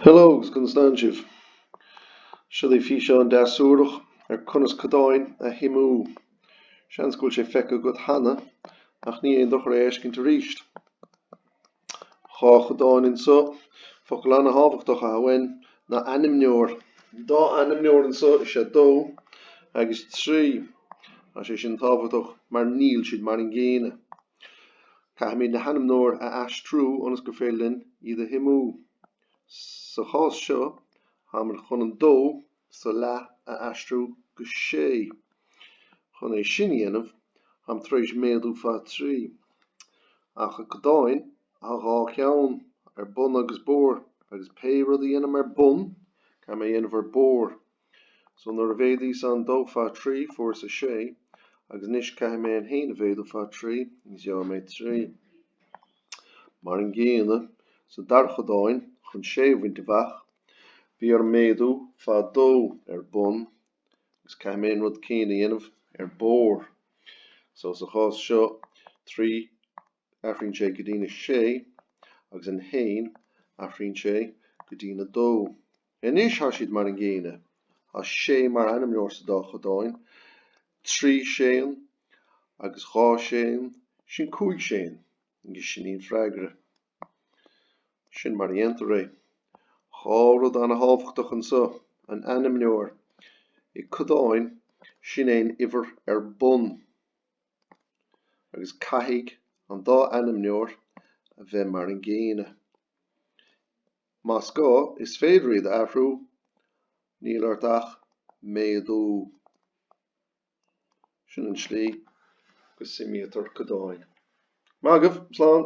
Hello agus conas tánn sibh! Seo daoibh físeán deas suarach ar conas codáin a shuimiú. Seans go bhfuil sé feicthe agat cheana, ach ní aon dochar é a fheiscint aríst. Dhá chodán anso, focal ana-thábhachtach amháin ná ainmneoir. An dá ainmneoir anso is ea dó agus trí. Thá sé sin tábhachtach mar níl siad mar an gcéanna. Caithfimid na hainmneoir a aistriú ionas gur féidir linn iad a shuimiú. Sa chás seo, táimid chun an dó sa leath a aistriú go sé. Chun é sin a dhéanamh, tháim tar éis méadú fá trí. Ach i gcodáin, thá dhá cheann, ar bun agus barr, agus pé rud a dhéanaim ar bun, caithfidh mé a dhéanamh ar barr. So nuair a mhéadaíos an dó fá trí, fuaireas a sé, agus anois caithfidh mé an haon a mhéadú fá trí, agus gheobhaidh mé trí. Mar an gcéanna sa dara chodáin, chun sé a bhaint amhach, bhí orm méadú fá dó ar bun, agus caithfidh mé an rud céanna a dhéanamh ar barr. So sa chás seo, trí. athraíonn sé go dtí'n 6 agus an haon athraíonn sé go dtí'n 2. Anois thá siad mar an gcéanna. Thá sé mar ainmneoir sa dá chodáin, trí séan agus dhá séan, sin cúig séan agus sin í an freagra. Sin mar a dhéantar é. Dhá rud ana-thábhachtach anso, an ainmneoir. I gcodáin, sin é an uimhir ar bun. agus caithfidh an dá ainmneoir a bheith mar an gcéanna. Más gá, is féidir iad a athrú, níl ort ach méadú. Sin an tslí go suimítear codáin. Maith agaibh! Slán!